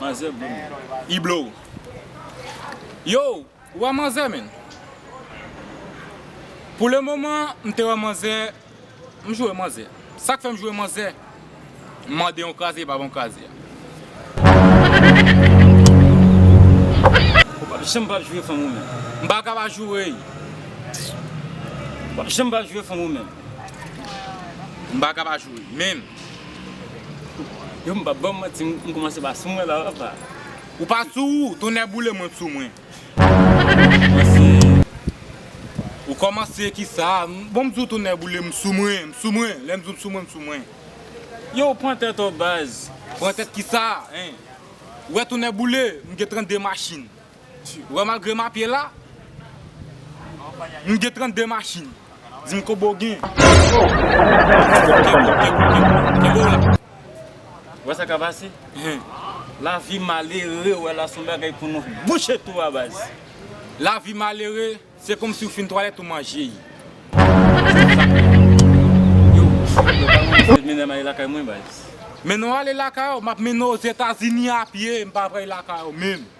Manzè bon moun. I blow. Yo, ou wè manzè menn? Pou le moman, m te wè manzè, m jwe manzè. Sa k fè m jwe manzè? M mande yon kraze, li pa ban m kraze a. Ou pap janm pap jwe fanm ou menm. M pa ka pa joure l. Ou pap janm pap jwe fanm ou menm. M pa ka pa joure l menm. Yo m pap baw manti m komanse pa sou mwen la apa. Ou pa sou ou, tonnè boule mwen t sou mwen. Ou komanse kisa, bon m di w tonnè boule m sou mwen, m sou mwen, lè m di w m sou mwen m sou mwen. Yow pran tèt ou baz. Pran tèt kisa hein. Ou wè tonnè boule m gen 32 machin. Wè malgre map ye la m gen 32 machin dim kobo gen kenbew la. Wè sa kap pase lavi malere wè la son bagay pou nou bouche tou a baz. Lavi malere se komsi ou fin twalèt ou manje yi. Mennen w ale lakay w map mennen w ozetazini a pye m pa vray lakay w menm.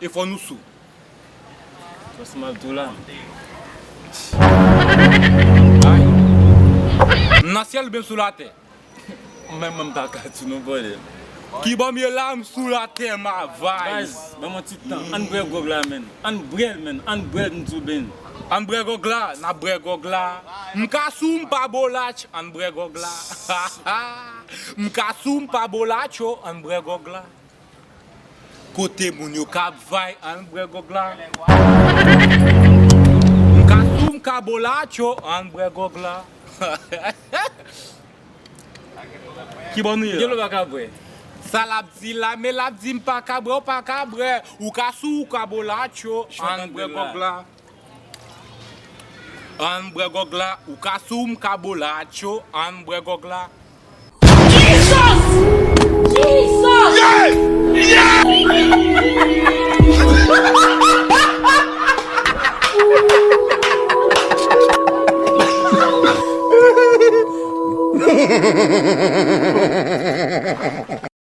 e fò nou sou. Tros mal tou la. Ay. M nan syèl oubyen m sou latè? Menm mwen m pa ka di non bòdèl. Kibò m ye la m sou latè ma vay. Baz banm yon ti tan ann brè gwòg la menn ann brèl menn ann brèl m di w benn. Ann brè gwòg la n ap brè gwòg la m ka sou m pa bolatch ann brè gwòg la ha ha m ka sou m pa bolatch o ann brè gwòg la. Kote moun yo kap vay ann brè gog la M ka sou m ka bolacho ann brè gog la Kibò nou ye la? Kibò nou pa ka bwè? Sa lap di la men lap di m pa ka bwè ou pa ka bwè Ou ka sou ou ka bolacho ann brè gog la. Ann bwè gòg la ou ka sou m ka bo la atcho ann bwè gòg la. Jesus! Jesus! Yes!